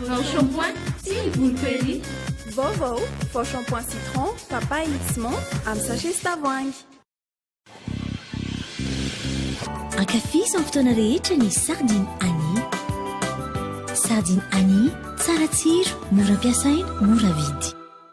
Vao shampoing sy volo peri. Vaovao, vao shampoing citron, papaye sy menthe amin'ny sachet sy tavoahangy. Ankafizo amin'ny fotoana rehetra ny sardine Annie. Sardine Annie, tsara tsiro, mora ampiasaina, mora vidy.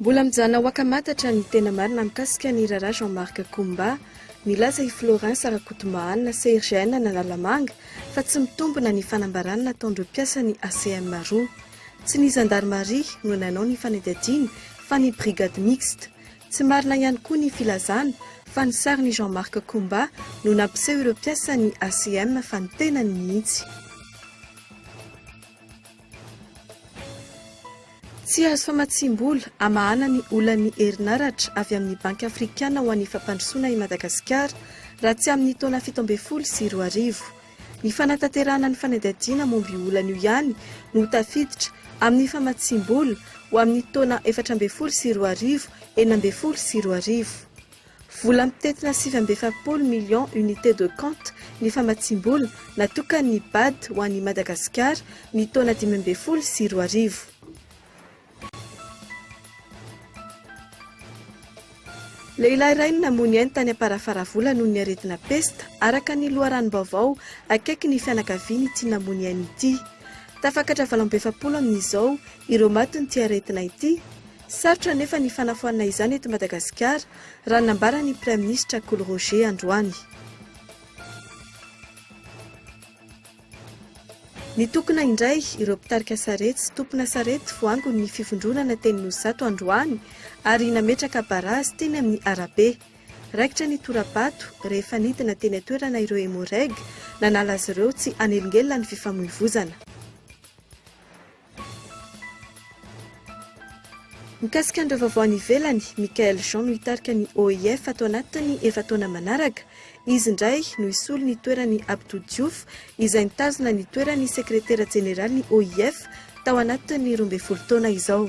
Mbola mijanona ho akamatatra ny tena marina mikasika ny raharaha Jean Marc Koumba. Nilaza i Florence Rakotombahanina, CRGN Analamanga, fa tsy mitombina ny fanambarana nataon'ireo mpiasan'ny ACM roa. Tsy ny zandarimaria no nanao ny fanadihadiana fa ny brigade mixte. Tsy marina ihany koa ny filazana fa ny sarin'i Jean Marc Koumba no nampiseho ireo mpiasan'ny ACM fa ny tenany mihitsy. Tsy azo famatsiam-bola hamahana ny olan'ny herinaratra avy amin'ny Banky Afrikana ho an'ny Fampandrosoana i Madagasikara raha tsy amin'ny taona fito ambin'ny folo sy roa arivo. Ny fanatanterahana ny fanadihadiana momba io olana io ihany no tafiditra amin'ny famatsiam-bola ho amin'ny taona efatra ambin'ny folo sy roa arivo, enina ambin'ny folo sy roa arivo. Vola mitentina sivy amby efapolo millions unités de compte ny famatsiam-bola natokan'ny Bad ho an'i Madagasikara ny taona dimy ambin'ny folo sy roa arivo. Lehilahy iray no namoy ny ainy tany Amparafaravola noho ny aretina pesta, araka ny loharanom-baovao akaiky ny fianakaviany ity namoy ny ainy ity. Tafakatra valo amby efapolo amin'izao ireo maty noho ity aretina ity. Sarotra anefa ny fanafoanana izany eto Madagasikara, raha ny nambaran'ny praiminisitra Kolo Roger androany. Nitokona indray ireo mpitarika sarety sy tompona sarety voangon' ny fivondronana teny Nosy-Zato androany ary nametraka barazy teny amin'ny arabe. Raikitra ny tora-bato rehefa nidina teny an-toerana ireo Emmo-Reg nanala azy ireo tsy hanelingelina ny fifamoivozana. Mikasika an'ireo vaovao any ivelany, Michaëlle Jean no hitarika ny OIF ato anatin'ny efa-taona manaraka. Izy indray no hisolo ny toeran'i Abdou Diouf izay nitazona ny toeran'ny sekretera jeneralin'ny OIF tao anatin'ny roa ambin'ny folo taona izao.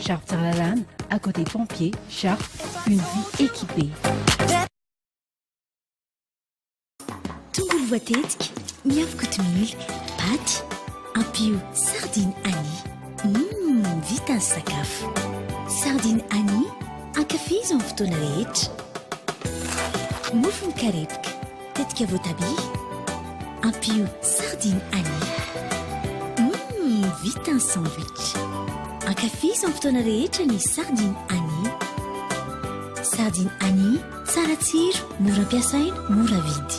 Sharp Tsaralalana, à côté pompier, Sharp, une vie équipée. Tongolo voatetika, miavy kotomila, paty, ampio sardine Annie. Mmm, vita ny sakafo. Sardine Annie, ankafizo amin'ny fotoana rehetra. Mofo mikarepoka. Tetika voatabia, ampio sardine anis. Hum, vita ny sandwich. Ankafizo amin'ny fotoana rehetra ny sardine anis. Sardine anis, tsara tsiro, mora ampiasaina, mora vidy.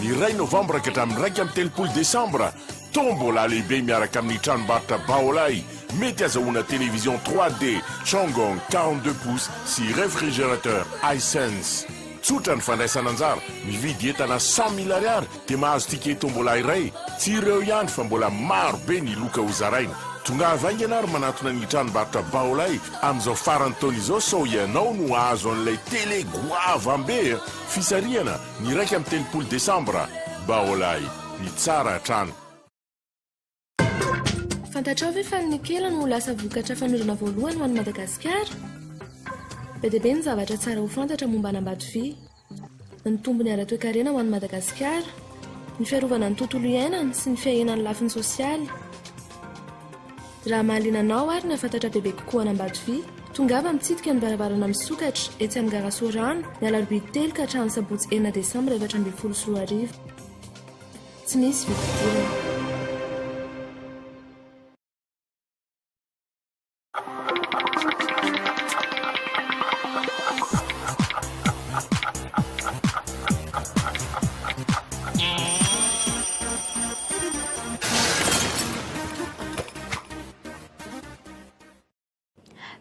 Ny iray novambra ka hatramin'ny iraika amby telopolo desambra, Tombola lehibe miaraka amin'ny tranombarotra Baolai, mety azahoana télévision 3D Chongong quarante deux pouces sy réfrigérateur Hisense. Tsotra ny fandraisana anjara, mividy entana cent mille ariary dia mahazo ticket Tombola iray. Tsy ireo ihany fa mbola maro be ny loka ho zaraina. Tongava haingana ary manantona ny tranombarotra Baolai amin'izao faran'ny taona izao sao ianao no hahazo an'ilay télé goavam-be a! Fisarihana, Ny iraika amby telopolo desambra, Baolai, ny tsara hatrany. Fantatrao ve fa ny nikela no ho lasa vokatra fanondrona voalohany ho an'i Madagasikara? Be dia be ny zavatra tsara ho fantatra momba an'Ambatovia. Ny tombony ara-toekarena ho an'i Madagasikara, ny fiarovana ny tontolo iainana sy ny fiahiana ny lafiny sosialy. Raha mahaliana anao ary nahafantatra bebe kokoa an'Ambatofi, tongava mitsidika ny varavarana misokatra etsy amin'ny gara Sorano, ny alarobia telo ka hatramin'ny sabotsy enina desambra efatra ambin'ny folo sy roa arivo. Tsy misy vidim-pidirana.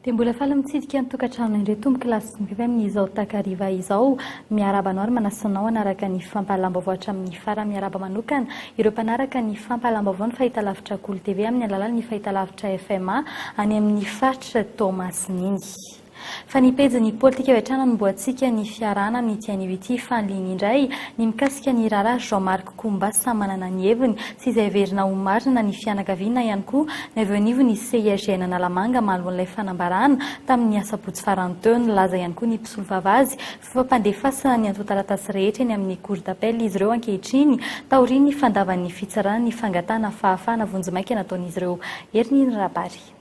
Dia mbola faly mitsidika ny tokantrano indray tompoko lahy sy mpimpy amin'izao takariva izao. Miarahaba anao ary manasa anao hanaraka ny fampahalam-baovao hatramin'ny farany. Miarahaba manokana ireo mpanaraka ny fampahalam-baovao ny fahitalavitra Kolo TV amin'ny alalan'ny fahitalavitra FMA any amin'ny faritra Toamasina iny. Fa ny pejin'ny politika hoetrany anombohantsika ny fiarahana amin'ity anio ity fanliny indray ny mikasika ny raharaha Jean Marc Koumba samy manana ny heviny sy izay heverina ho marina ny fianakaviana ihany koa no avy eo anivon'ny CIJN Analamanga mahaloan'ilay fanambarana tamin'ny asabotsy farany teo nilaza ihany koa ny mpisolovava azy fampandefasana ny antontataratasy rehetra eny amin'ny cour d'appel izy ireo ankehitriny taorian'ny fandavan'ny fitsarana ny fangatahana fahafahana vonjimaika nataon'izy ireo Erniny Rabary.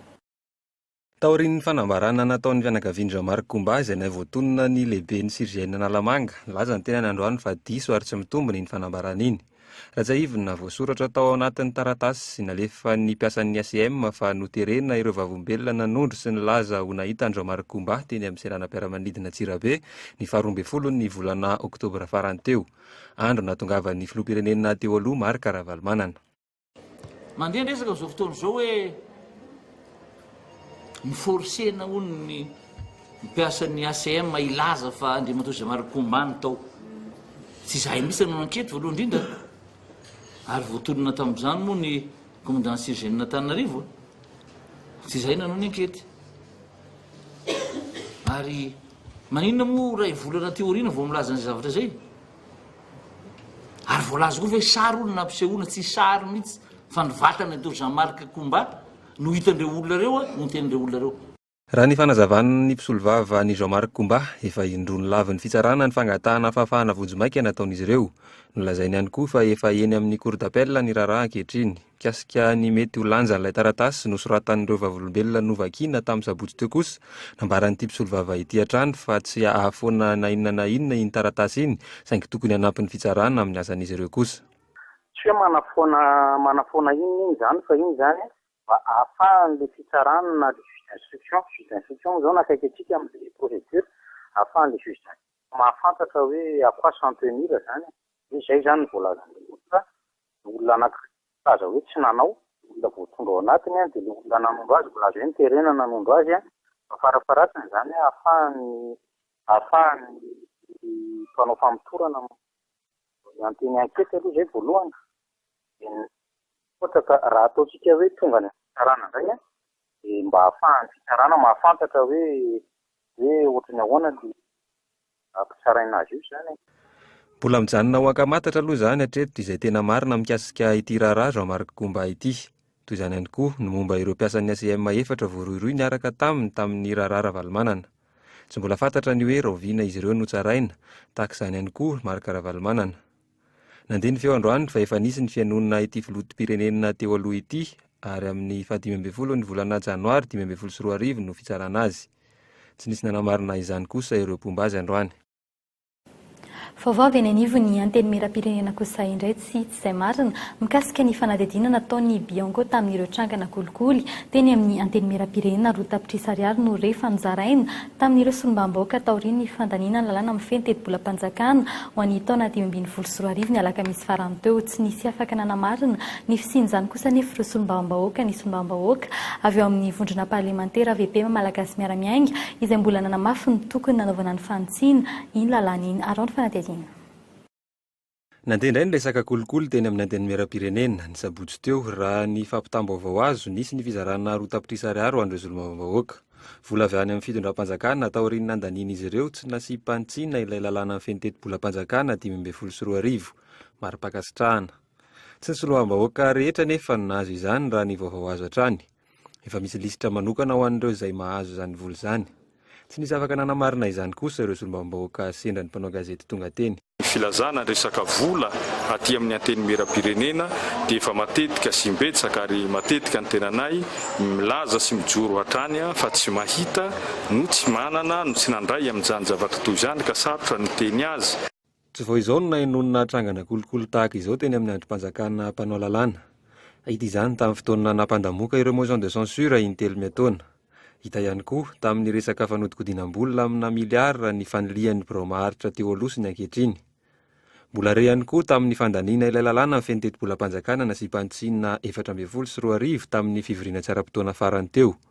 Taorian'ny fanambarana nataon'ny fianakavian-dRamarc Koumba izay nahay voatonona ny lehiben'ny CGN Analamanga, nilaza ny tenany androany fa diso ary tsy mitombina iny fanambarana iny. Ratsiahivina, voasoratra tao anatin'ny taratasy nalefan'ny mpiasan'ny ACM fa noterena ireo Vavolombelona nanondro sy nilaza ho nahita an-dRamarc Koumba teny amin'ny seranam-piaramanidina Antsirabe ny faha roa ambin'ny folon'ny volana oktobra farany teo, andro nahatongavan'ny filoham-pirenena teo aloha Marc Ravalomanana. Mandeha ny resaka amin'izao fotoana izao hoe mi-forcer-na hono ny mpiasan'ny ACM hilaza fa Andriamatoa Jamar Nkumba no tao. Tsy izahay mihitsy nanao ankety voalohany indrindra ary voatonona tamin'izany moa ny Commandant Surgène Antananarivo. Tsy izahay nanao ny ankety. Ary maninona moa iray volana aty aoriana vao milaza an'izay zavatra izay? Ary voalaza koa ve sary hono nampisehoana, tsy sary mihitsy fa ny vatan'i Atoa Jean Marc Koumba no hitan'ireo olona ireo a, no tenin'ireo olona ireo. Raha ny fanazavan'ny mpisolovava an'i Jean Marc Koumba, efa indroa nolavin'ny fitsarana ny fangatahana fahafahana vonjimaika nataon'izy ireo. Nolazainy ihany koa fa efa eny amin'ny Cour d'appel ny raharaha ankehitriny. Mikasika ny mety ho lanjan'ilay taratasy nosoratan'ireo Vavolombelona novakina tamin'ny sabotsy teo kosa, nambaran'ity mpisolovava ity hatrany fa tsy ahafoana na inona na inona iny taratasy iny, saingy tokony hanampy ny fitsarana amin'ny asan'izy ireo kosa. Tsy hoe manafoana manafoana inona inona izany fa iny izany mba ahafahan'ilay fitsarana na ilay juge d'instruction, juge d'instruction moa izao no akaiky antsika amin'ilay procédure, ahafahan'ilay juge d'instruction mahafantatra hoe à quoi s'en tenir izany e, dia izay izany no voalazan'ilay olona. Ny olona anankiray milaza hoe tsy nanao, ny olona voatondro ao anatiny dia ilay olona nanondro azy, milaza hoe niterena nanondro azy, fa farafaharatsiny izany ahafahan'ny ahafahan'ny mpanao famotorana miantehany ny ankety aloha izay voalohany, dia ny ohatra ka raha ataontsika hoe tonga any amin'ny fitsarana indray dia mba ahafahan'ny fitsarana mahafantatra hoe hoe ohatran'ny ahoana ilay hampitsaraina azy io izany e. Mbola mijanona ho ankamatatra aloha izany hatreto izay tena marina mikasika ity raharaha Jean Marc Goumba ity. Toy izany ihany koa ny momba ireo mpiasan'ny ACM efatra voarohirohy niaraka taminy tamin'ny raharaha Ravalomanana. Tsy mbola fantatra ny hoe rahoviana izy ireo notsaraina, tahaka izany ihany koa Marc Ravalomanana. Nandeha ny feo androany fa efa nisy ny fihainoana ity filotopirenena teo aloha ity ary amin'ny faha dimy ambin'ny folo ny volana janoary dimy ambin'ny folo sy roa arivo no fitsarana azy. Tsy nisy nanamarina izany kosa ireo mpomba azy androany. Vaovao avy eny anivon'ny Antenimierampirenena kosa indray tsy tsy izay marina mikasika ny fanadihadiana nataon'ny Bionco tamin'ireo trangana kolikoly teny amin'ny Antenimierampirenena roa tapitrisa ariary no re fa nozaraina tamin'ireo solombambahoaka taorian'ny fandaniana ny lalàna mifehy ny tetibolam-panjakana ho an'ny taona dimy ambin'ny folo sy roa arivo ny alakamisy farany teo. Tsy nisy afaka nanamarina ny fisian'izany kosa anefa ireo solombavambahoaka ny solombavambahoaka avy ao amin'ny vondrona parlemantera VPM Malagasy Miara-Miainga izay mbola nanamafy ny tokony nanaovana ny fanitsiana iny lalàna iny. Arao ny fanadihadiana. Nandeha indray ny resaka kolikoly teny amin'ny Antenimierampirenena, ny sabotsy teo. Raha ny fampitam-baovao azo, nisy ny fizarana roa tapitrisa ariary ho an'ireo solombavambahoaka. Vola avy any amin'ny fitondram-panjakana, taorian'ny nandanian'izy ireo, tsy nasiam-panitsiana ilay lalàna mifehy ny tetibolam-panjakana dimy ambin'ny folo sy roa arivo. Mari-pankasitrahana. Tsy ny solombavambahoaka rehetra anefa no nahazo izany, raha ny vaovao azo hatrany. Efa misy lisitra manokana ho an'ireo izay mahazo izany vola izany. Tsy nisy afaka nanamarina izany kosa ireo solombavambahoaka sendra ny mpanao gazety tonga teny. Ny filazana ny resaka vola aty amin'ny Antenimierampirenena dia efa matetika sy imbetsaka ary matetika ny tenanay milaza sy mijoro hatrany fa tsy mahita no tsy manana no tsy nandray amin'izany zava-toa izany ka sarotra ny miteny azy. Tsy vao izao no nahenoana trangana kolikoly tahaka izao teny amin'ny andrim-panjakana mpanao lalàna. Hita izany tamin'ny fotoana nampandamoka ireo motions de censure in-telo miataona. Hita ihany koa tamin'ny resaka fanodinkodinam-bola amina miliara ny fanilihan'ny birao maharitra teo aloha sy ny ankehitriny. Mbola re ihany koa tamin'ny fandaniana ilay lalàna feno tetibolam-panjakana nasiam-panitsiana efatra ambin'ny folo sy roa arivo tamin'ny fivoriana tsy ara-potoana farany teo.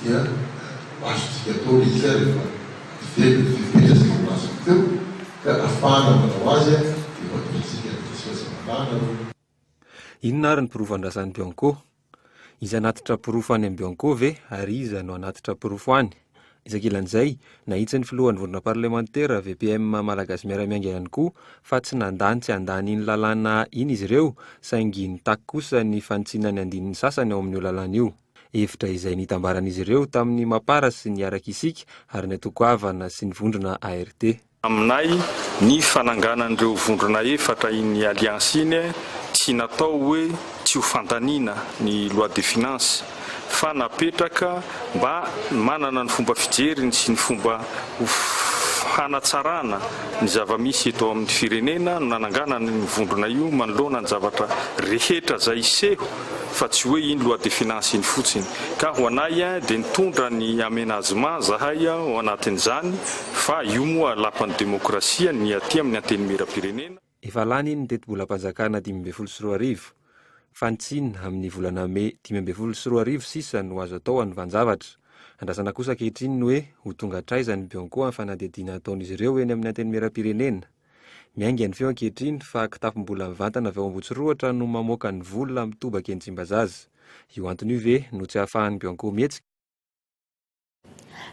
dia ho azontsika atao ilay izy ary efa very ny fepetra izay voalazako teo ka afahana manao azy dia ho atolotsika ny diso hazavanana aloha. Inona ary ny porofan-drazan'i Bianco? Iza hanatitra porofo any amin'i Bianco ve ary iza no hanatitra porofo any? Etsy ankilan'izay, nahitsy ny filohan'ny vondrona parlemantera, VPM, Malagasy miara-miainga ihany koa fa tsy nandà ny tsy handany iny lalàna iny izy ireo saingy nitaky kosa ny fanitsiana ny andininy sasany ao amin'io lalàna io. hevitra izay nitambaran'izy ireo tamin'ny Mapar sy ny Araka Isika ary ny Antoko Havana sy ny Vondrona ARD. Aminay, ny fananganan'ireo vondrona efatra iny alliance iny tsy natao hoe tsy ho fandaniana ny loi de finances fa napetraka mba manana ny fomba fijeriny sy ny fomba hanatsarana ny zava-misy eto amin'ny firenena no nananganana io vondrona io manoloana ny zavatra rehetra izay seho fa tsy hoe iny loi de finance iny fotsiny ka ho anay dia nitondra ny aménagement zahay ao anatin'izany fa io moa lapan'ny demokrasia ny aty amin'ny antenimieram-pirenena Efa lany iny ny tetibolam-panjakana dimy ambin'ny folo sy roa arivo fa ny tsiny amin'ny volana mey dimy ambin'ny folo sy roa arivo sisa no azo atao hanovan-javatra. Andrasana kosa ankehitriny ny hoe ho tonga hatraiza ny bianco amin'ny fanadihadiana ataon'izy ireo eny amin'ny antenimieram-pirenena? Miainga ny feo ankehitriny fa kitapom-bola mivantana avy ao Ambohitsirohatra no mamoaka ny vola mitobaka eny Tsimbazaza. Io antony io ve no tsy ahafahan'ny Bianco mihetsika?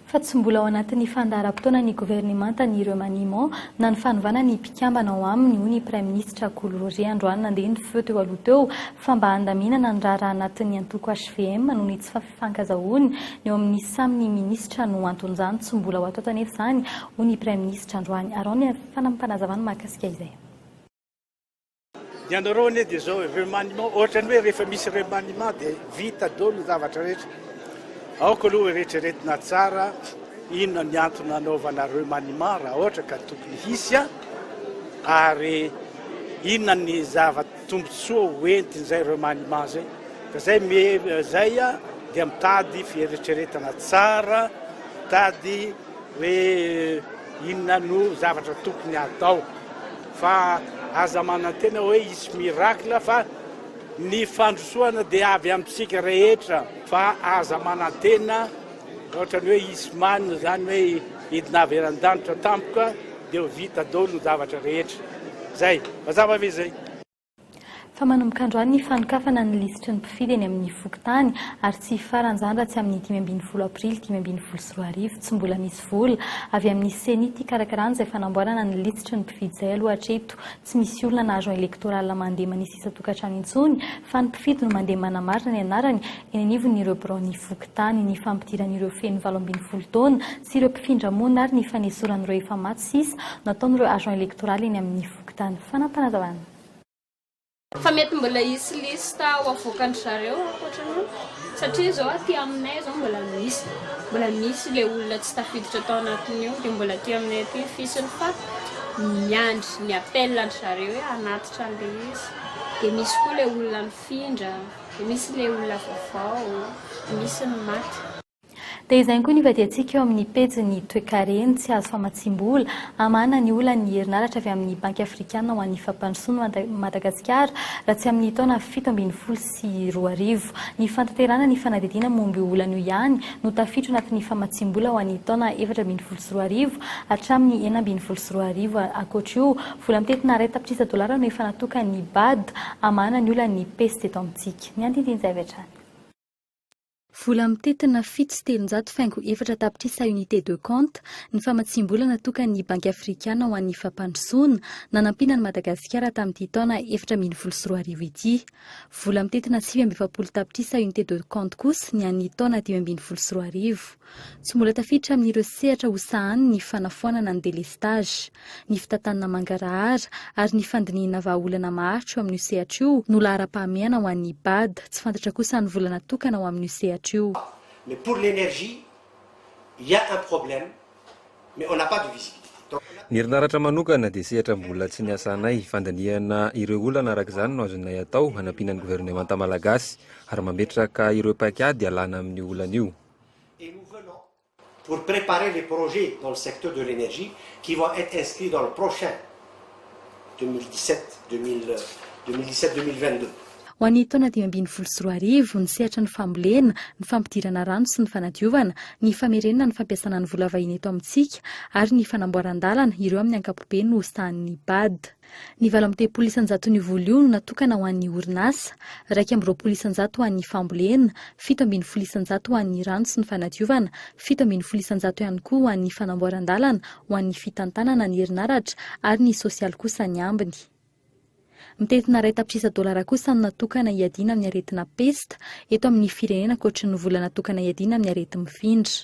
Fa tsy mbola ao anatin'ny fandaharam-potoanan'ny governemantany ireo maniement na ny fanovana ny mpikambana ao aminy, hoy ny praiminisitra Kolo Roger androany nandeha ny feo teo aloha teo fa mba handaminana ny raharaha anatin'ny antoko hvm noho ny tsy fankazahoana ny eo amin'ny samy ny minisitra no anton'izany, tsy mbola ho ato ato anefa izany, hoy ny praiminisitra androany. Araho ny fanamim-panazavana mahakasika izay. Ny anareo anie dia izao e, remaniement, ohatrany hoe rehefa misy remaniement dia vita daholo ny zavatra rehetra. Aoka aloha eretreretina tsara inona ny antony nanaovana remaniement raha ohatra ka tokony hisy ary inona ny zava Tombotsoa ho entiny zay remaniement zay ka zay me zay a dia mitady fieretreretana tsara mitady hoe inona no zavatra tokony atao fa aza manantena hoe hisy miracle fa ny fandrosoana dia avy amintsika rehetra fa aza manantena ohatrany hoe hisy manina zany hoe hidina avy eran-danitra tampoka Dia ho vita dolo ny zavatra rehetra. Zay. Mazava ve zay? Fa manomboka androany ny fanokafana ny lisitry ny mpifidy eny amin'ny fokontany ary tsy hifarana izany raha tsy amin'ny dimy ambin'ny folo aprily dimy ambin'ny folo sy roa arivo. Tsy mbola misy vola avy amin'ny ceni hikarakarana izay fanamboarana ny lisitry ny mpifidy izay aloha hatreto. Tsy misy olona na agent electoral mandeha manisy isan-tokantrano intsony fa ny mpifidy no mandeha manamarina ny anarany eny anivon'ireo biraon'ny fokontany. Ny fampidiran'ireo feno valo ambin'ny folo taona sy ireo mpifindra monina ary ny fanesoran'ireo efa maty sisa nataon'ireo agent electoral eny amin'ny fokontany. Fanapanazavana. Fa mety mbola hisy liste ho avoakan-dry zareo ankoatra ny satria izao aty aminay izao mbola misy mbola misy ilay olona tsy tafiditra tao anatin'io dia mbola aty aminay aty ny fisiny fa miandry ny appel an-dry zareo hoe hanatitra an'ilay izy dia misy koa ilay olona nifindra dia misy ilay olona vaovao dia misy ny maty. Dia izay ihany koa ny hivadihantsika eo amin'ny pejin'ny toekareny tsy azo famatsiam-bola. Hamahana ny olan'ny herinaratra avy amin'ny Banky Afrikana ho an'ny Fampandrosoana an'i Madagasikara raha tsy amin'ny taona fito ambin'ny folo sy roa arivo. Ny fantanterahana ny fanadihadiana momba io olana io ihany no tafiditra anatin'ny famatsiam-bola ho an'ny taona efatra ambin'ny folo sy roa arivo hatramin'ny enina ambin'ny folo sy roa arivo. Ankoatra io, vola mitentina iray tapitrisa dolara no efa natokan'ny bad hamahana ny olan'ny pejy teto amintsika. Ny andinindin-javy hatrany. Vola mitentina fito sy telonjato faingo efatra tapitrisa unités de compte ny famatsiam-bola natokan'ny Banky Afrikana ho an'ny fampandrosoana nanampiana an'i Madagasikara tamin'ity taona efatra ambin'ny folo sy roa arivo ity. Vola mitentina sivy amby efapolo tapitrisa unités de compte kosa ny an'ny taona dimy ambin'ny folo sy roa arivo. Tsy mbola tafiditra amin'ireo sehatra ho sahaniny ny fanafoanana ny delestazy. Ny fitantanana mangarahara ary ny fandinihina vahaolana maharitra io amin'io sehatra io no laharam-pahamehana ho an'ny Ibad. Tsy fantatra kosa ny vola natokana ho amin'io sehatra io. Mais pour l'énergie, il ya un problème mais on n'a pas de visibilité donc on a. Ny herinaratra manokana dia sehatra mbola tsy niasanay. Fandinihana ireo olana araka izany no azonay atao hanampiana ny governemanta malagasy ary mametraka ireo paikady ialana amin'io olana io. et nous venons pour preparer les projets dans le secteur de l'energie qui vont etre inscrits dans le prochain 2017 2017 2022. Ho an'ny taona dimy ambin'ny folo sy roa arivo, ny sehatra ny fambolena, ny fampidirana rano sy ny fanadiovana, ny famerenana ny fampiasana ny vola vahiny eto amintsika ary ny fanamboaran-dalana, ireo amin'ny ankapobeny no sahanin'ny Bad. Ny valo amby telopolo isanjaton'io vola io no natokana ho an'ny orinasa, iraika amby roapolo isanjato ho an'ny fambolena, fito ambin'ny folo isanjato ho an'ny rano sy ny fanadiovana, fito ambin'ny folo isanjato ihany koa ho an'ny fanamboaran-dalana, ho an'ny fitantanana ny herinaratra ary ny sosialy kosa ny ambiny. Mitentina iray tapitrisa dolara kosa no natokana hiadiana amin'ny aretina pesta eto amin'ny firenena ankoatry ny vola natokana hiadiana amin'ny areti-mifindra.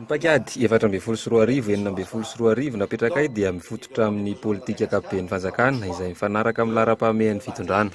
Ny paikady efatra ambin'ny folo sy roa arivo, enina ambin'ny folo sy roa arivo napetrakay dia mifototra amin'ny politika ankapoben'ny fanjakana izay mifanaraka amin'ny laharam-pahamehan'ny fitondrana.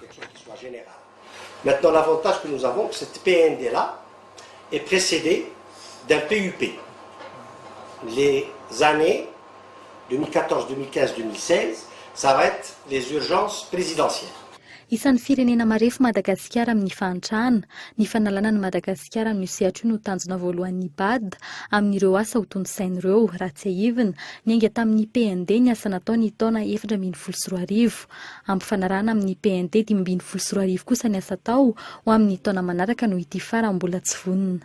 Isan'ny firenena marefo Madagasikara amin'ny fahantrana. Ny fanalana an'i Madagasikara amin'io sehatra io no tanjona voalohan'ny Bad amin'ireo asa hotontosainy ireo. Raha tsiahivina, niainga tamin'ny PND ny asa natao ny taona efatra ambin'ny folo sy roa arivo. Ampifanarahana amin'ny PND dimy ambin'ny folo sy roa arivo kosa ny asa atao ho amin'ny taona manaraka noho ity farany mbola tsy vonona.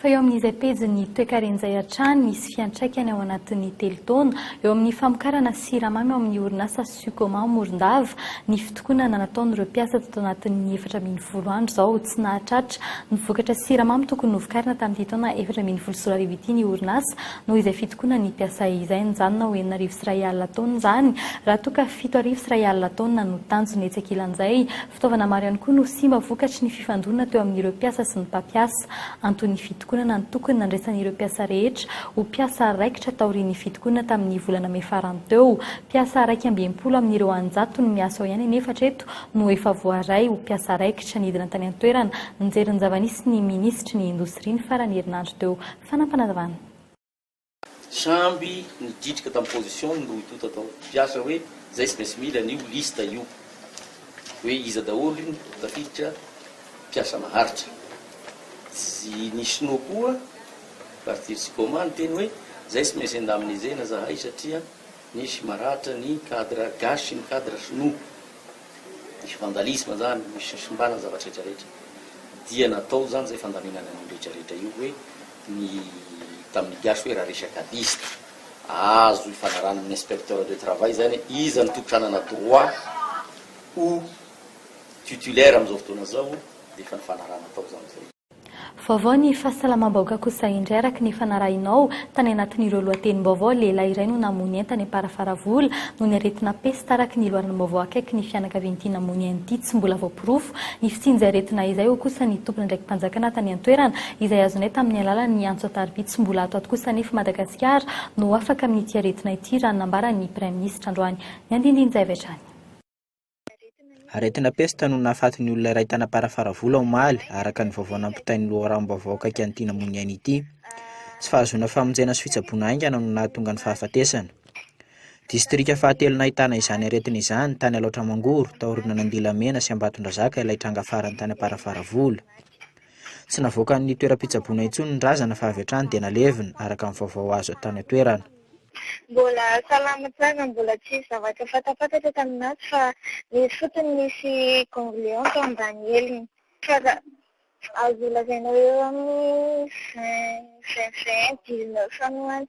fa eo amin'izay pejin'ny toekarena izay hatrany misy fiantraikany ao anatin'ny telo taona eo amin'ny famokarana siramamy ao amin'ny orinasa Sucoma Morondava ny fitokonana nataon'ireo mpiasa tato anatin'ny efatra ambin'ny folo andro izao tsy nahatratra ny vokatra siramamy tokony novokarina tamin'ity taona efatra ambin'ny folo sy roa arivo ity ny orinasa noho izay fitokonana ny mpiasa izay nijanona ho enina arivo sy iray alina taona izany raha toa ka fito arivo sy iray alina taona no tanjona etsy ankilan'izay Fitaovana maro ihany koa no simba vokatry ny fifandonana teo amin'ireo mpiasa sy ny mpampiasa. Anton'ny fitokonana ny tokony nandraisan'ireo mpiasa rehetra ho mpiasa raikitra taorian'ny fitokonana tamin'ny volana mey farany teo. Mpiasa iraika amby enimpolo amin'ireo anjatony miasa ao ihany anefa hatreto no efa voaray ho mpiasa raikitra. Nidina tany an-toerana nijery ny zava-nisy ny minisitry ny indostria ny faran'ny herinandro teo Fanampinavana. Samby nidritrika tam position ny roa itoto atao mpiasa hoe zay tsy maintsy mila an'io liste io hoe iza daholo ny tafiditra mpiasa maharitra. Tsy ny sinoa koa partir sy coma niteny hoe zay tsy maintsy indemnisena zahay satria misy maratra ny cadre gasy sy ny cadre sinoa. Misy vandalisme zany, misy fisimbana ny zavatra retraretra. Dia natao zany zay fandaminana an'io retraretra io hoe. ny tamin'ny DH hoe raha resaka liste azo ifanarahana amin'ny inspecteur de travail izany hoe iza no tolotra hanana droit ho titulaire amin'izao fotoana izao dia efa nifanarahana tao izany izay. Vaovao ny fahasalamam-bahoaka kosa indray araka ny efa narahinao tany anatin'ireo lohatenim-baovao, lehilahy iray no namono entana Amparafaravola noho ny aretina pesta araka ny loharanom-baovao akaiky ny fianakavian'ity namono an'ity tsy mbola voaporofo ny fisian'izay aretina izay, hoy kosa ny tompon'andraiki-panjakana tany an-toerana. izay azonay tamin'ny alalan'ny antso an-tarobia tsy mbola ato ato kosa anefa Madagasikara no ho afaka amin'ity aretina ity raha ny nambaran'ny Praiminisitra androany. Ny andindin-jay avy hatrany. Aretina pesta no nahafaty ny olona iray tany Amparafaravola omaly, araka ny vaovao nampitain'ny loharanom-baovao akaiky an'ity namoy ny ainy ity. Tsy fahazoana famonjena sy fitsaboana haingana no nahatonga ny fahafatesana. Distrika fahatelo nahitana izany aretina izany, tany Alaotra Mangoro, taorianan'Andilamena sy Ambatondrazaka ilay tranga farany tany Amparafaravola. Tsy navoakan'ny toeram-pitsaboana intsony ny razana fa avy hatrany dia nalevina, araka ny vaovao azo avy tany an-toerana. Mbola salama tsara, mbola tsisy zavatra fantampantatra tamin'azy fa nisy fotsiny nisy ganglion tao ambany heliny. Fa raha azo lazaina hoe eo amin'ny vingt, vingt, vingt, dix-neuf any ho any.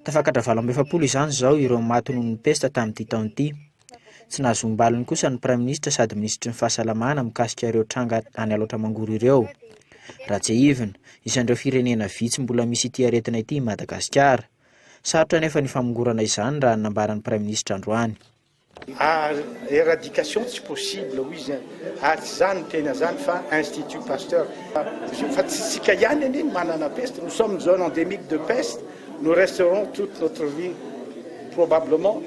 Tafakatra valo amby efapolo izany izao ireo maty noho ny pesta tamin'ity taona ity. Tsy nahazo ambaliny kosa ny praiminisitra sady minisitry ny fahasalamana mikasika ireo tranga any Alaotra Mangoro ireo. Ratsehivina, isan'ireo firenena vitsy mbola misy ity aretina ity i Madagasikara. Sarotra anefa ny famongorana izany raha ny nambaran'ny praiminisitra androany. ary eradication tsy possible hoy izy ary tsy za no niteny an'izany fa institut pasteur fa tsy isika ihany anie ny manana peste nous sommes zone endémique de peste nous resterons toute notre vie probablement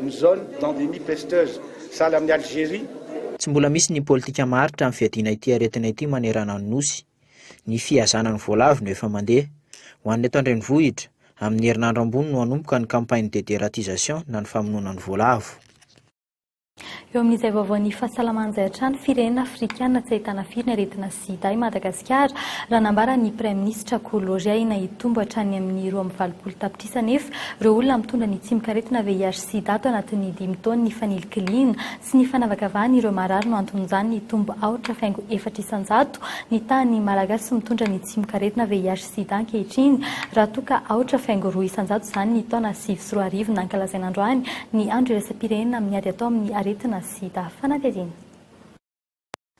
ny zone d'endémie pesteuse sahala amin'ny Algérie Tsy mbola misy ny politika maharitra amin'ny fiadiana ity aretina ity manerana ny Nosy. ny fihazana ny voalavo no efa mandeha. Ho an'ny eto an-drenivohitra, amin'ny herinandro ambony no hanomboka ny campagne de deratisation na ny famonoana ny voalavo. Eo amin'izay vaovaon'ny fahasalamana izay hatrany, firenena afrikana tsy ahitana firy ny aretina sida i Madagasikara, raha nambara ny praiminisitra Kolory. Ahiana hitombo hatrany amin'ny roa amby valopolo tapitrisa anefa ireo olona mitondra ny tsimokaretina VIH-sida ato anatin'ny dimy taona nifaninlikiliana. Tsy ny fanavakavahana ireo marary no anton'izany nitombo aotra faingo efatra isan-jato ny tahan'ny Malagasy mitondra ny tsimokaretina VIH-Sida ankehitriny, raha toa ka aotra faingo roa isan-jato izany ny taona sivy sy roa arivo nankalazaina androany ny andro iraisam-pirenena amin'ny ady atao amin'ny aretina Sida. Fanadihadiana.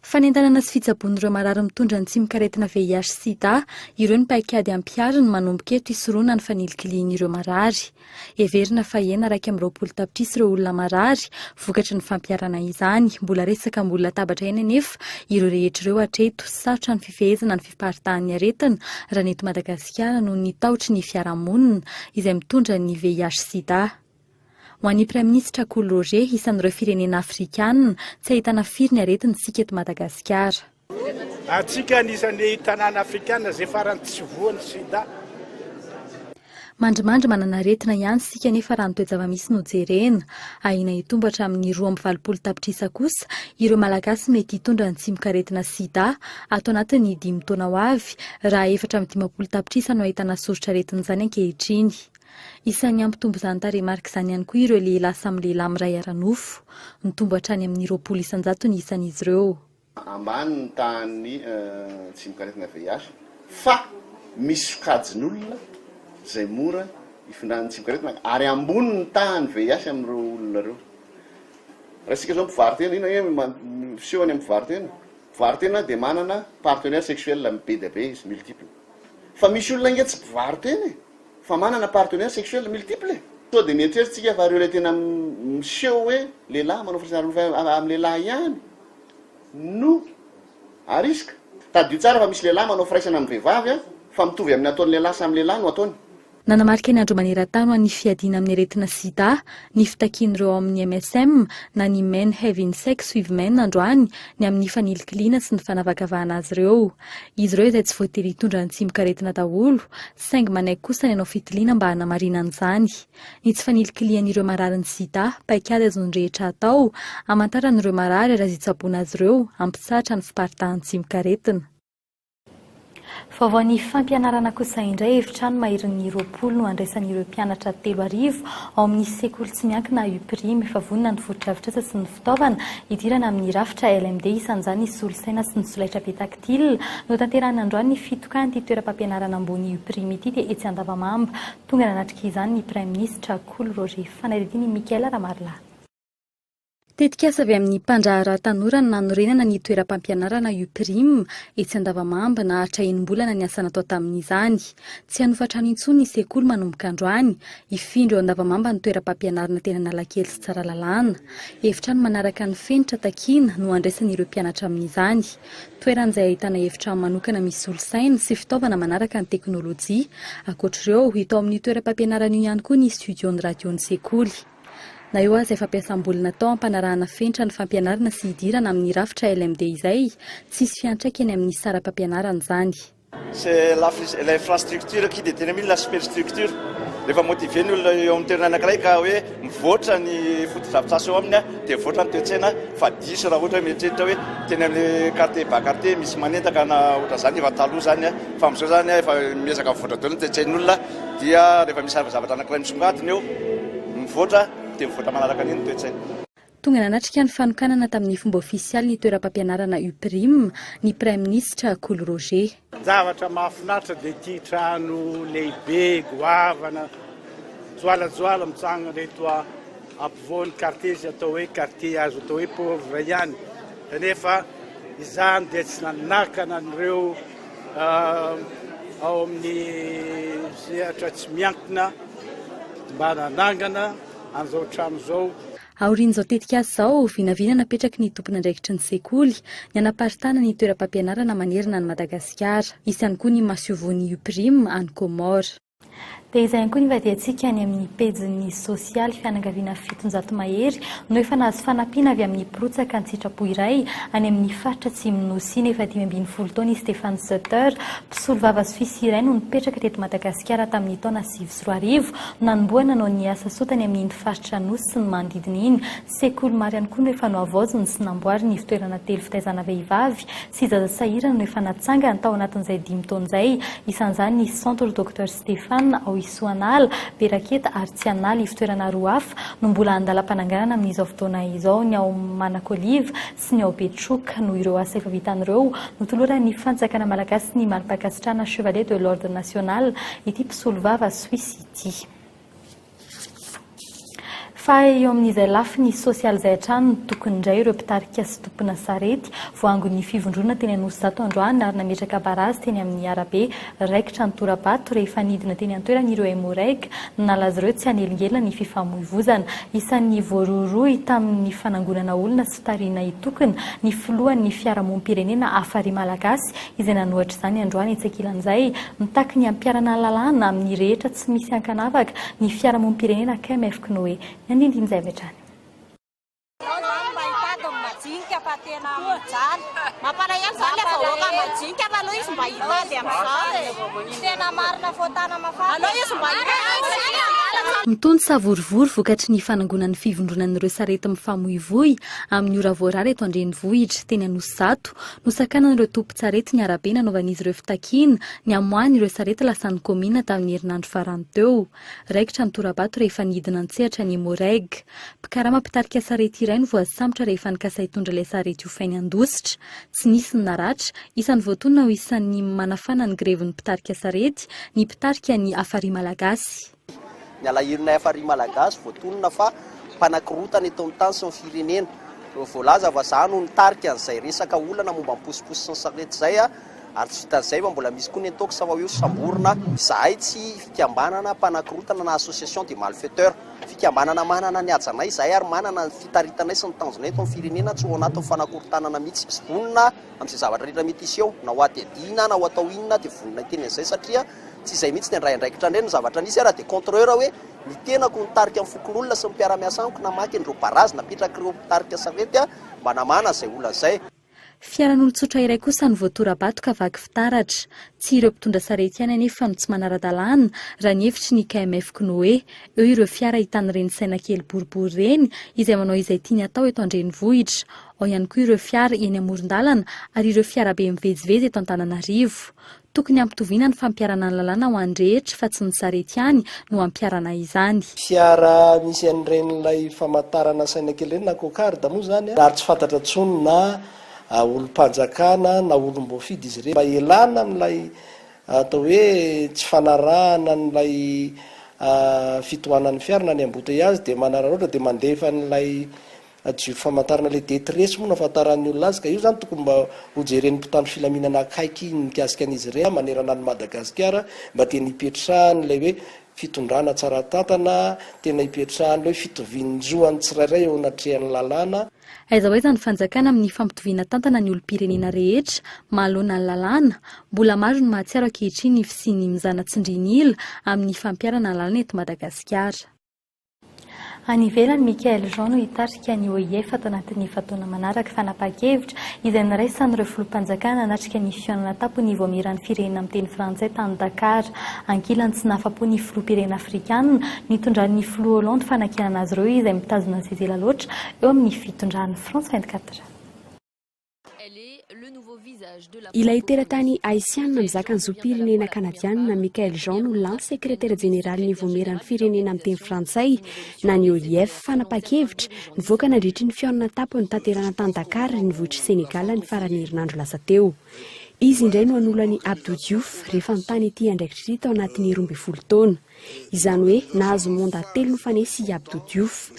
Fanentanana sy fitsaboan'ireo marary mitondra ny tsimok'aretina VIH sida ireo ny paikady ampihariny manomboka eto hisoroana ny fanilikilihin'ireo marary. Heverina fa hena iraika amby roapolo tapitrisa ireo olona marary vokatry ny fampiharana izany. Mbola resaka ambony latabatra ihany anefa ireo rehetra ireo hatreto. Sarotra ny fifehezana ny fiparitahan'ny aretina raha ny eto Madagasikara noho ny tahotry ny fiarahamonina izay mitondra ny VIH sida. Ho an'ny Praiminisitra Kolo Roger, isan'ireo firenena afrikana tsy ahitana firy ny aretina isika eto Madagasikara. Antsika anisan'ny tanàna afrikana izay farany tsy voan'ny sida. Mandrimandry manana aretina ihany isika nefa raha ny toe-java-misy no jerena, ahiana hitombo hatramin'ny roa amby valopolo tapitrisa kosa ireo Malagasy mety hitondra ny tsimokaretina sida ato anatin'ny dimy taona ho avy raha efatra amby dimampolo tapitrisa no ahitana soritr'aretin'izany ankehitriny. Isan'ny hampitombo izany tarehimarika izany ihany koa ireo lehilahy samy lehilahy miray ara-nofo. Nitombo hatrany amin'ny roapolo isan-jato ny isan'izy ireo. Ambany ny tahan'ny tsimok'aretina VIH fa misy sokajin'olona izay mora ifindran'ny tsimok'aretina ary ambony ny tahan'ny VIH amin'ireo olona ireo. Raha isika izao mpivaro-tena, inona ange no miseho any amin'ny mpivaro-tena? Mpivaro-tena dia manana partenaire sexuel be dia be izy, multiple. Fa misy olona ange tsy mpivaro-tena e! fa manana partenaire sexuel multiple e! Sao dia mieritreritsika fa ireo ilay tena miseho hoe lehilahy manao firaisana ara-nofo amin'ny lehilahy ihany no arisika? Tadidio tsara fa misy lehilahy manao firaisana amin'ny vehivavy fa mitovy amin'ny ataon'ny lehilahy samy lehilahy no ataony. Nanamarika ny Andro maneran-tany ho an'ny fiadiana amin'ny aretina sida ny fitakian'ireo ao amin'ny MSM na ny Men Having Sex with Men androany ny amin'ny fanilikiliana sy ny fanavakavahana azy ireo. izy ireo izay tsy voatery hitondra ny tsimokaretina daholo, saingy manaiky kosa ny hanao fitiliana mba hanamarinana izany. Ny tsy fanilikilihan'ireo mararin'ny sida, paikady azon'ny rehetra atao, hamantarana ireo marary ary azo itsaboana azy ireo, hampitsahatra ny fiparitahan'ny tsimokaretina. Vaovao ny fampianarana kosa indray, efitrano maherin'ny roapolo no handraisan'ireo mpianatra telo arivo ao amin'ny sekoly tsy miankina Uprime, efa vonona ny fotodrafitrasa sy ny. fitaovana hidirana amin'ny rafitra LMD, isan'izany ny solosaina sy ny solaitrabe tactile. Notanterahina androany ny fitokan'ity toeram-pampianarana ambony UPRIM ity dia etsy Andavamamba. Tonga nanatrika izany ny praiminisitra Kolo Roger. Fanadihadian' i Michael Ramarilahy. Tetikasa avy amin'ny mpandraharaha tanora ny nanorenana ny toeram-pampianarana UPRIM etsy Andavamamba. Naharitra enim-bolana ny asa natao tamin'izany. Tsy hanofa-trano intsony ny sekoly manomboka androany. Hifindra eo Andavamamba ny toeram-pampianarana teny Analakely sy Tsaralalàna. Efitrano manaraka ny fenitra takiana no handraisan'ireo mpianatra amin'izany. Toerana izay ahitana efitrano manokana misy solosaina sy fitaovana manaraka ny teknolojia. Ankoatr'ireo, hita ao amin'io toeram-pampianarana io ihany koa ny studion'ny radion'ny sekoly. Na eo aza ny fampiasam-bola natao hampanarahana fenitra ny fampianarana sy hidirana amin'ny rafitra LMD izay, tsy hisy fiantraikany amin'ny saram-pampianarana izany. C'est la l'infrastructure qui détermine la superstructure. Rehefa motiver ny olona eo amin'ny toerana anankiray ka hoe mivoatra ny fotodrafitrasa eo aminy dia mivoatra ny toe-tsaina fa diso raha ohatra hoe mieritreritra hoe teny amin'ny quartier bas quartier misy manendaka na ohatra izany efa taloha izany a. Fa amin'izao izany a efa miezaka mivoatra daholo ny toe-tsain'olona dia rehefa misy zavatra anankiray misongadina eo mivoatra dia mivoatra manaraka an'iny ny toe-tsaina. Tonga nanatrika ny fanokanana tamin'ny fomba ofisialy ny toeram-pampianarana Uprim ny Praiminisitra Kolo Roger. Zavatra mahafinaritra dia ity trano lehibe goavana joalajoala mitsangana eto ampovoan'ny kartie izay atao hoe kartie azo atao hoe pauvre ihany kanefa izany dia tsy nanakana an'ireo ao amin'ny sehatra tsy miankina mba nanangana an'izao trano izao. Aorian'izao tetikasa izao, vinavina napetraky ny tompon'andraikitry ny sekoly ny hanaparitahana ny toeram-pampianarana manerana an'i Madagasikara. Hisy ihany koa ny masoivohon'ny UPRIM any Comores. Dia izay ihany koa ny ivadihantsika any amin'ny pejin'ny sosialy, fianakaviana fitonjato mahery no efa nahazo fanampiana avy amin'ny mpirotsaka an-tsitrapo iray any amin'ny faritra atsimon'ny Nosy. Ny efa dimy ambin'ny folo taona i Stefan Sutter, mpisolovava Soisy iray no nipetraka teto Madagasikara tamin'ny taona sivy sy sy roa arivo, nanombohana no niasa soa tany amin'iny faritra Anosy sy ny manodidina iny. Sekoly maro ihany koa no efa nohavaoziny sy namboariny ivotoerana telo fitaizana vehivavy sy zaza sahirana no efa natsangany tao anatin'izay dimy taona izay, isan'izany ny Centre Docteur Stéphane ao Isoanala, Beraketa ary Tsianala, ivotoerana roa hafa no mbola andalam-pananganana amin'izao fotoana izao, ny ao Manakoliva sy ny ao Betroka. Noho ireo asa efa vitany ireo, notoloran'ny Fanjakana malagasy ny mari-pankasitrahana Chevalier de l'Ordre national ity mpisolovava Suisse ity. Fa eo amin'izay lafiny sosialy izay hatrany no tokony indray ireo mpitarika sy tompona sarety, voangon'ny fivondronana teny Anosizato androany ary nametraka barazy teny amin'ny arabe Raikitra ny tora-bato rehefa nidina teny an-toerana ireo Emmo-Reg. Nanala azy ireo tsy hanelingelina ny fifamoivoizana. Isan'ny voarohirohy tamin'ny fanangonana olona sy tarihina hitokona ny filohan'ny fiarahamonim-pirenena Afari Malagasy izay nanohatra izany androany etsy ankilan'izay. Mitaky ny hampiharana lalàna amin'ny rehetra tsy misy ankanavaka ny fiarahamonim-pirenena KMFKnoe. Ny andinindin'izay avy hatrany. Ianao izany mba hitady ny majinika fa tena amin'izany. Mampalahelo izany ilay vahoaka majinika fa aleo izy mba hitady amin'izany e. Tena marina fô tana mafana. Aleo izy mba hitady. Mitonja savorovoro vokatry ny fanangonan'ny fivondronan'ireo sarety mifamoivoy amin'ny ora voarara eto an-drenivohitra, teny Anosizato, nosakanan'ireo tompon-tsarety ny arabe nanaovan'izy ireo fitakiana ny hamoahany ireo sarety lasan'ny kaominina tamin'ny herinandro farany teo. Raikitra ny tora-bato rehefa nidina an-tsehatra ny Moreg. Mpikarama mpitarika sarety iray no voasambotra rehefa nikasa hitondra ilay sarety hofainy handositra. Tsy nisy ny naratra. Isan'ny voatonona ho isan'ny manafana ny grevin'ny mpitarika sarety ny mpitarika ny Afari Malagasy. Ny alahelonay Afari Malagasy voatonona fa mpanakorontana eto amin'ny tany sy ny firenena. Voalaza fa za no nitarika an'izay resaka olana momba ny posiposy sy ny sarety izay. Ary tsy vitan'izay fa mbola misy koa ny intox fa io samborina izahay tsy fikambanana mpanakorontana na association des malfaiteurs. Fikambanana manana ny hajanay izahay ary manana ny fitaritanay sy ny tanjonay eto amin'ny firenena tsy ho ao anatin'ny fanakorontanana mihitsy. Vonona amin'izay zavatra rehetra mety hiseo ao na ho hadihadiana na ho atao inona dia vonona hiteny an'izay satria tsy izay mihitsy ny handray andraikitra indray no zavatra nisy ary dia contreur hoe ny tenako nitarika ny fokonolona sy ny mpiara-miasa amiko namaky an'ireo barazy napetrak'ireo mpitarika sarety mba namahana izay olana izay. Fiaran'olon-tsotra iray kosa no voatora-bato ka vaky fitaratra. Tsy ireo mpitondra sarety ihany anefa no tsy manara-dalàna, raha ny hevitry ny KMF K'noe. Eo ireo fiara hitan'ireny saina kely boribory ireny, izay manao izay tiany atao eto an-drenivohitra. Ao ihany koa ireo fiara eny amoron-dalana ary ireo fiarabe mivezivezy eto Antananarivo. Tokony hampitoviana ny fampiharana ny lalàna ho an'ny rehetra fa tsy ny sarety ihany no hampiharana izany. Fiara misy an'iren'ilay famantarana saina kely ireny na cocarde moa izany ary tsy fantatra intsony na olom-panjakana na olom-boafidy izy ireny mba hialana amin'ilay atao hoe tsy fanarahana an'ilay fitohanan'ny fiara na ny embouteillage dia manararaotra dia mandefa an'ilay Adio famantarana le detresse moa no afantaran'ny olona azy ka io zany tokony mba ho jeren'ny mpitandro filaminana akaiky ny mikasika an'izy ireny manerana an'i Madagasikara mba tena hipetrahan'ilay hoe fitondrana tsara tantana, tena hipetrahan'ilay hoe fitovian-jo an'ny tsirairay eo anatrehan'ny lalàna. Aiza ho aiza ny fanjakana amin'ny fampitoviana tantana ny olom-pirenena rehetra mahaloana ny lalàna? Mbola maro ny mahatsiaro ankehitriny ny fisian'ny mizana tsindrin'ila amin'ny fampiharana lalàna eto Madagasikara. Any ivelany, Michaël Jean no hitarika ny OIF ato anatin'ny efa-taona manaraka fanapahan-kevitra izay niraisan'ireo filoham-panjakana hanatrika ny fihaonana tampon'ny Ivoamiran'ny firenena miteny frantsay tany Dakar. Ankilany tsy nahafa-po ny filoham-pirenena afrikanina nitondran'ny filoha Hollande fanakianana azy ireo izay mitazona zezela loatra eo amin'ny fitondran'i France vingt-quatre heures. Ilay teratany Haisiana mizaka ny zom-pirenena Kanadiana Michaëlle Jean no lany sekretera jeneralin'ny Vaomieran'ny Firenena Miteny Frantsay na ny OIF. Fanapahan-kevitra nivoaka nandritry ny fihaonana an-tampony notanterahana tany Dakar renivohitr'i Sénégal ny faran'ny herinandro lasa teo. Izy indray no hanolo an'i Abdou Diouf rehefa mitàna ity andraikitra ity tao anatin'ny roa ambin'ny folo taona. Izany hoe nahazo monda telo nifanesy i Abdou Diouf.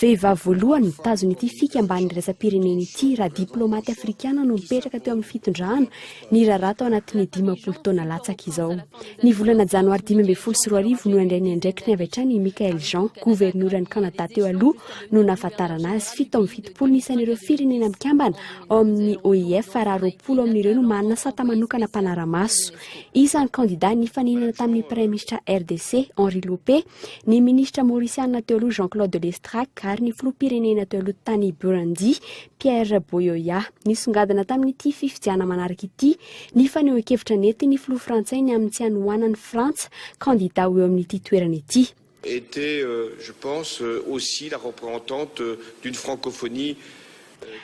Vehivavy voalohany nitazona ity fikambanana iraisam-pirenena ity raha diplaomaty afrikana no mipetraka teo amin'ny fitondrana niraharaha tao anatin'ny dimampolo taona latsaka izao. Ny volana janoary dimy ambin'ny folo sy roa arivo no nandray ny andraikiny avy hatrany i Michael Jean, governoran'i Kanada teo aloha no nahafantarana azy. Fito amby fitopolo ny isan'ireo firenena mikambana ao amin'ny OIF raha roapolo amin'ireo no manana sata manokana mpanara-maso. Isan'ny kandidà nifaninana tamin'ny Praiminisitra RDC, Henri Lopé, ny Minisitra Maurisiana teo aloha Jean-Claude Lestrac ary ny Filoham-pirenena teo aloha tany Burundi, Pierre Boyoya. Nisongadina tamin'ity fifidiana manaraka ity ny fanehoan-kevitra nentin'ny Filoha Frantsay ny amin'ny tsy hanohanan'i Frantsa kandidà ho eo amin'ity toerana ity. était je pense aussi la reprhentante d'une francophonie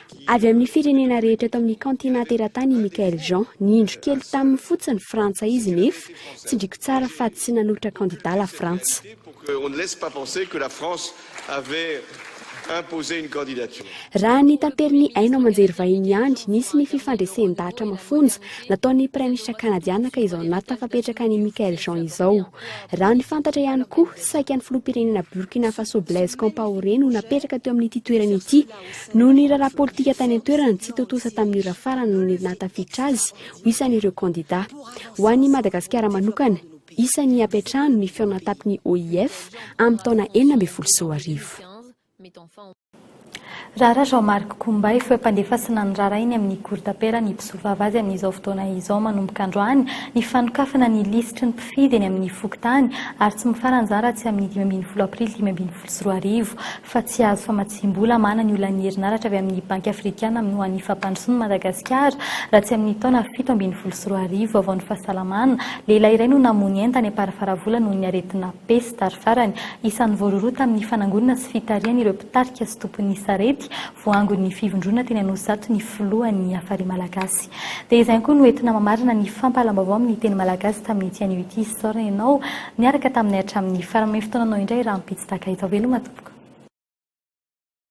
qui Avy amin'ny firenena rehetra eto amin'ny kaontinanta eran-tany i Michaël Jean. Niindro kely taminy fotsiny Frantsa izy nefa tsindriko tsara fa tsy nanolotra kandida la Frantsa. pour que on ne laisse pas penser que la France avait imposé une candidature. Raha ny taperin'ny haino aman-jery vahiny ihany, nisy ny fifandresen-dahatra mafonja nataon'ny Praiminisitra Kanadiana ka izao nahatonga fapetraka an'i Michaël Jean izao. Raha ny fantatra ihany koa, saika ny filoham-pirenena Burkina Faso Blaise Compaoré no napetraka teo amin'ity toerana ity. Noho ny raharaha politika tany an-toerana, tsy tontosa tamin'ny ora farany ny nahatafiditra azy ho isan'ireo kandidà. Ho an'i Madagasikara manokana, isan'ny hampiantrano ny feon'antapin'ny OIF amin'ny taona enina ambin'ny folo sy roa arivo. Raharaha Jean Marc Kombay, foempandefas sy nanrara eny amin'ny Cour d'Appel ny mpisolovava azy amin'izao fotoana izao manomboka androany ny fanokafana ny lisitry ny mpifidy eny amin'ny fokontany ary tsy mifara an'izany raha tsy amin'ny dimy ambin'ny folo aprily dimy ambin'ny folo sy roa arivo fa tsy hahazo famatsiam-bola mana ny olan'ny herinaratra avy amin'ny Banky Afrikana amin'ny ho an'ny Fampandrosoan'i Madagasikara raha tsy amin'ny taona fito ambin'ny folo sy roa arivo Vaovaon'ny fahasalamana, Lehilahy iray no namoy ny entany am-parifaravola noho ny aretina. Pesta ary farany, isan'ny voarohirohy tamin'ny fanangonana sy fitarihana ireo mpitarika sy tompon'ny sarety voaangon'ny fivondrona teny Anosizato ny filohan'ny Hafari Malagasy. Dia izay ihany koa no entina mamarana ny fampahalam-baovao amin'ny teny malagasy tamin'ity anio ity isaorana ianao niaraka taminay hatramin'ny farany manome fotoananao indray rahampitso tahaka izao veloma tompoko.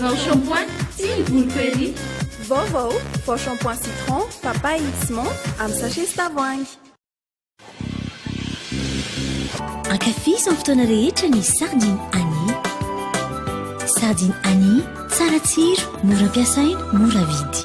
Vao shampoing sy ny volo curry. Vaovao, vao shampoing citron, papaye sy menthe amin'ny sachet sy tavoahangy. Ankafizo amin'ny fotoana rehetra ny sardine Annie. Sardine Annie, tsara tsiro, mora ampiasaina, mora vidy.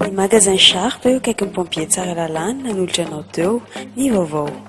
Ny magasin Sharp eo akaikin'ny pompier Tsaralalana nanolotra anao teo ny vaovao.